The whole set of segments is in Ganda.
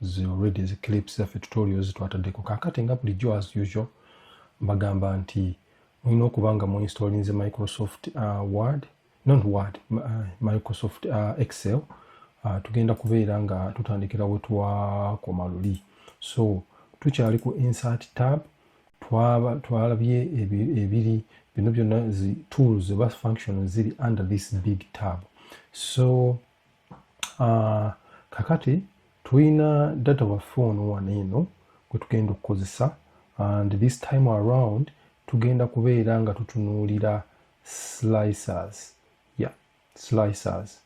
zi already zi clips zaffe tutorial zitwataddeko kakati nga bulijjo as usual mbagamba nti mulina okuba nga muinstalinze microsoft uh, word not word uh, microsoft uh, excel uh, tugenda kubeera nga tutandikira wetwakoma luli so tukyali ku insert tab twalabye ebiri bino byonna zi tools oba function ziri under this big tab so Ah, kakati tulina data waffe ono wano eno gwe tugenda okukozesa and this time around tugenda kubeera nga tutunuulira slicers yeah slicers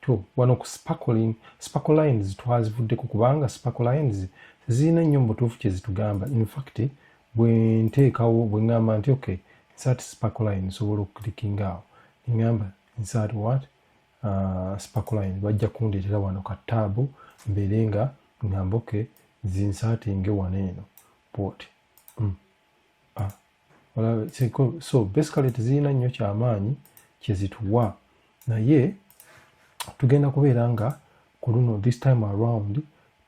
to wano ku sparkling sparkle lines twazivuddeko kubanga sparkle lines zirina nnyo mubutuufu kyezitugamba infact bwe nteekawo bwe ŋŋamba nti okay nsat sparkle line nsobola okuklikinga awo neŋŋamba nsat what uh, spacoline bajja kundeetera wano ka taabu mbeere nga ngamba oke zinsaatinge wano eno bwoti mm. ah. so basically tezirina nnyo kyamaanyi kyezituwa naye tugenda kubeera nga ku luno this time around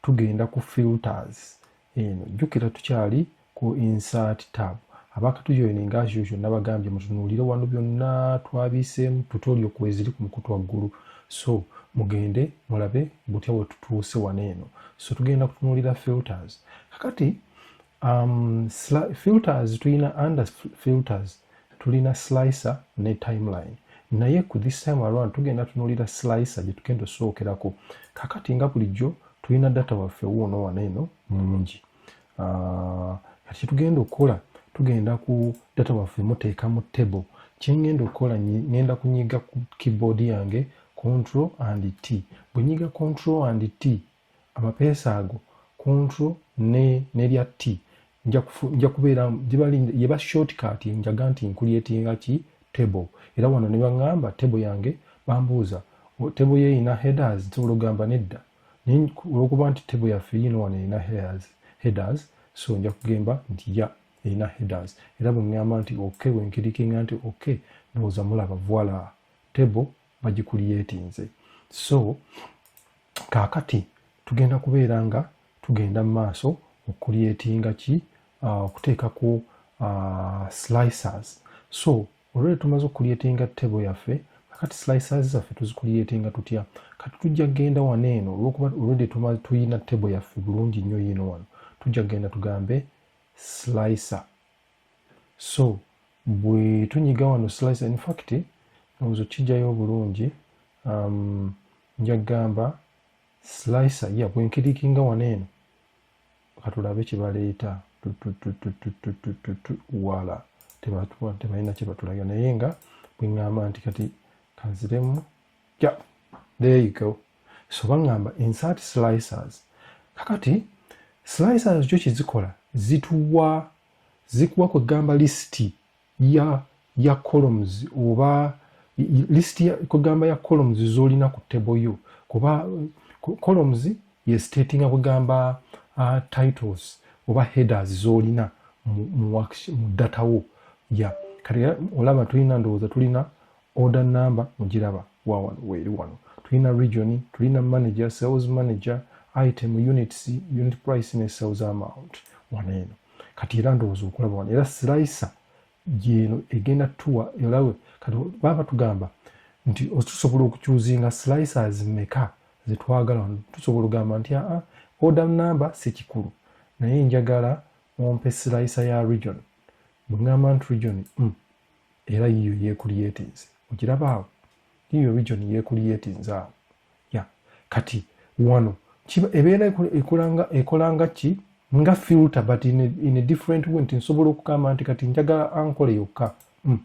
tugenda ku filters eno jjukira tukyali ku insert tab abakatujoininga as usual nabagambye mutunuulire wano byonna twabiiseemu tutorial kweziri ku mukutu waggulu so mugende mulabe butya bwe tutuuse wano eno so tugenda kutunuulira filters kakati um, filters tulina under filters tulina slicer ne timeline naye ku this time around tugenda tunulira slicer gye tugenda osookerako kakati nga bulijjo tulina data waffe wuuno wano eno mungi ah, kati kyetugenda okukola tugenda ku data waffe muteeka mu table kyengenda okukola ngenda kunyiga ku keyboard yange control and t bwenyiga control and t amapeesa ago control ne nerya t nja kubeera yeba shortcut njaga nti nkuliyetinga ki table era wano ne baŋŋamba table yange bambuuza table ye erina headers nsobola okugamba nedda naye olwokuba nti table yaffe yiino wano erina headers headers so nja kugemba nti ya erina headers era bwe ŋŋamba nti ok bwe nkirikinga nti ok ndowooza mulaba voila table bagikuliyetinze so kaakati tugenda kubeera nga tugenda mu maaso okukuliyetinga ki uh, okuteekako uh, slicers so olwere tumaze okukuliyetinga tebo yaffe kati slicers zaffe tuzikuliyetinga tutya kati tujja kugenda wano eno olwokuba olwedde tuyina tebo yaffe bulungi nnyo yiino wano tujja kugenda tugambe slicer so bwe tunyiga wano slice in fact ndowooza okijjayo obulungi um, nja kugamba slicer ya bwenkirikinga wano eno katulabe kyebaleeta wala tebalina kyebatulaga naye nga bweŋŋamba nti kati kanziremu yeah, there you go so baŋŋamba insert slicers kakati slicers kyo kyezikola zituwa zikuwa kwegamba lisiti ya ya columns oba lisiti kwegamba ya columns zolina ku table yo kuba columns ye statinga kwegamba uh, titles oba headers zolina mu, mu, mu data wo ya yeah. kati olaba tulina ndowooza tulina Order number mugiraba wa wano weeri wano. Tulina region, tulina manager, sales manager, item, units, unit price ne sales amount wano eno. Kati era ndowooza okulaba wano era slicer gyeno egenda tuwa erawe kati baba tugamba nti tusobola okukyuzinga slicers meka zetwagala wano tusobola ogamba nti aa order number si kikulu naye njagala ompe slicer ya region bwegamba nti region mm. era yiyo yekulyetinze okiraba awo yiyo region yekulyetinze awo ya kati wano ebeera ekolanga ekolanga ki nga filter but in a, in a different way nti nsobola okugamba nti kati njagala ankole yokka mm.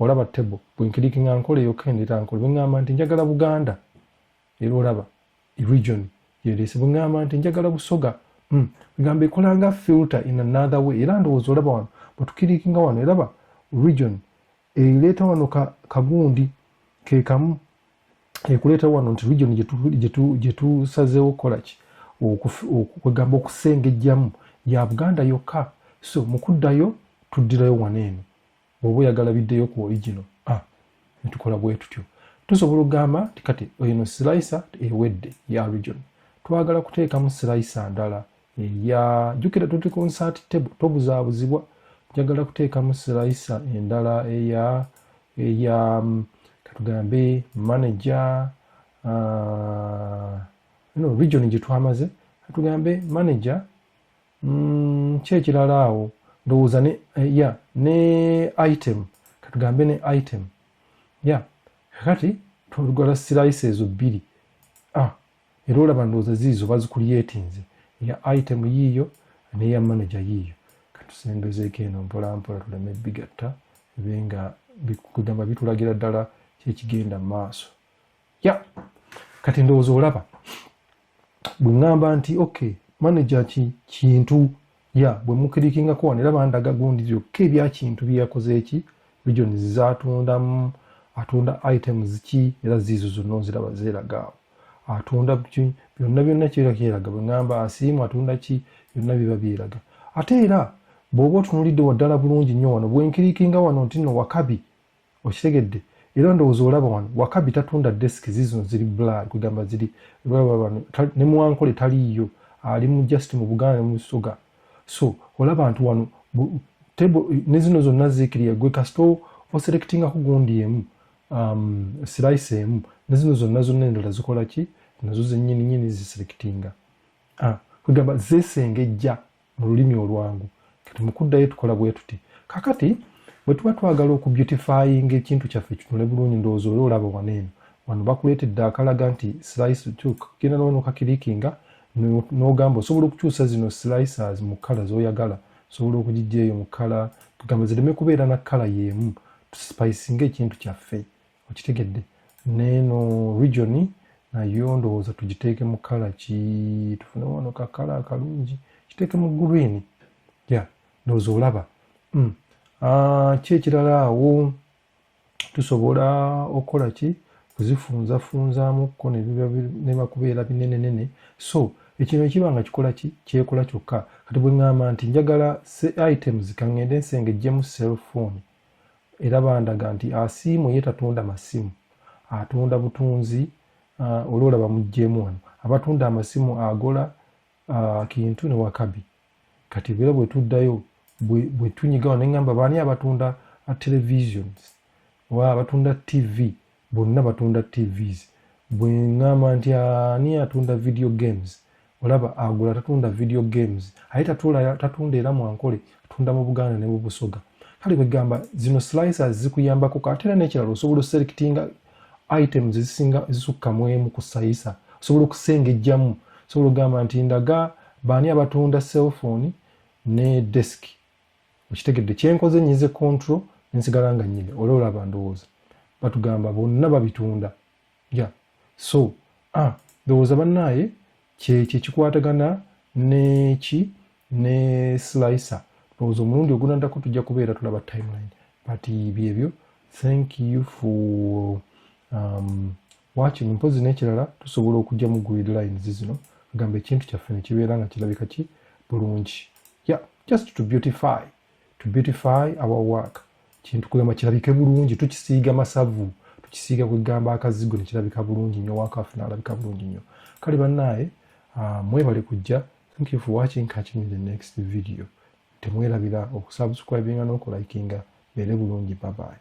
olaba table bwenkirikinga nkole yokka endeta nkole bweŋamba nti njagala buganda era olaba region yeleese bwegamba nti njagala busoga hmm. egamba ekola nga filter in another way era ndowooza olaba wano bwetukirikinga wano eraba region ereeta wano kagundi kekamu ekuleeta wano nti region gyetusazeewo okukolaki kwegamba okusengejjamu ya buganda yokka so mukuddayo tuddirayo wano eno Bwoba oyagala biddeyo ku original a netukola bwetutyo. Tusobola okugamba nti kati eno slicer ewedde ya region twagala kuteekamu slicer ndala eya jukira tuti ku nsert table tobuzabuzibwa njagala kuteekamu slicer endala eya eya mm, katugambe manager uh, no region gyetwamaze katugambe manager Mm, ki ekirala awo ndowooza ne eh, ya ne item katugambe ne item ya kakati twalugala sirayisi ezo bbiri ah, era olaba ndowooza ziizo bazikulyetinze eya item yiiyo neya manaja yiiyo katusembezeeko eno mpolampola tuleme bigatta ebe nga kugamba bitulagira ddala kyekigenda mu maaso ya kati ndowooza olaba bwe ŋŋamba nti ok manaja ki kintu ya bwe mukirikingako wano era bandaga gundi byokka ebyakintu bye yakoze eki regions zaatundamu atunda items ki era ziizo zonna oziraba zeeragaawo atunda byonna byonna kibeera kyeraga bwe ŋŋamba asiimu atunda ki byonna biba byeraga ate era bw'oba otunulidde waddala bulungi nnyo wano bwenkirikinga wano nti no wakabi okitegedde era ndowooza olaba wano wakabi tatunda desk zizino ziri blad kwegamba ziri nemuwankole taliiyo ali mu just mu buganda nemusoga so olaba nti wano ne zino zonna zikiriya gwe kasita oselectingako gundi emu um, slice emu ne zino zonna zonna endala zikola ki nazo zenyini nyini ziselectinga ah, kwegamba zesengejja mu lulimi olwangu kati mukuddayo tukola bwe tuti kakati bwe tuba twagala okubeautifyinga ekintu kyaffe kitunule bulungi ndowooza oli olaba wano eno wano bakuleetedde akalaga nti slice tuk genda nawo nokakirikinga n'ogamba osobola okukyusa zino slicers mu kkala z'oyagala osobola okugijja eyo mu kkala tugamba zireme kubeera na kkala y'emu tusipayisinga ekintu kyaffe okitegedde neeno region nayo ndowooza tugiteeke mu kala ki tufune wano ka kala akalungi kiteeke mu green ya ndowooza olaba mm. ah, ki ekirala awo tusobola okukola ki kuzifunzafunzamukko nebakubeera binenenene so ekino ekiba nga kikola ki kyekola kyokka kati bwe ŋŋamba nti njagala items ka ŋŋende nsengejjemu cellphone era bandaga nti asiimu ye tatunda masimu atunda butunzi uh, olwolaba mujjeemu wano abatunda amasimu agola uh, kintu ne wakabi kati era bwetuddayo bwetunyigawo neŋamba baani abatunda uh, televisions oba abatunda tv Bonna batunda TVs. Bwe ngamba nti ani atunda video games, olaba agula tatunda video games. Aye tatunda era mu Ankole, atunda mu Buganda ne mu Busoga. Kale bwe gamba zino slicers zikuyambako ate era n'ekirala osobola oselectinga items ezisinga ezisukka mu emu ku sayisa. Osobola okusengejjamu. Osobola okugamba nti ndaga baani abatunda cellphone ne desk. okitegedde kyenkoze nyize control nensigala nga nyine ola olaba ndowooza batugamba bonna babitunda ya so ah, ndowooza bannaaye kyekyo ekikwatagana neki ne slicer ndowooza omulundi ogunandako tujja kubeera tulaba timeline but byebyo thank you for um, Waakiri mpozzi n'ekirala tusobola okugyamu grid lines zino agamba ekintu kyaffe ne kibeera nga kirabika ki bulungi ya just to beautify to beautify our work kintu kugamba kirabike bulungi tukisiiga masavu tukisiiga kwegamba akazigo nekirabika bulungi nnyo wakaffe nalabika bulungi nnyo kale bannaaye ah, mwebale kujja thank you for watching catch me the next video temwerabira okusubscribinga n'okulayikinga beere bulungi babayi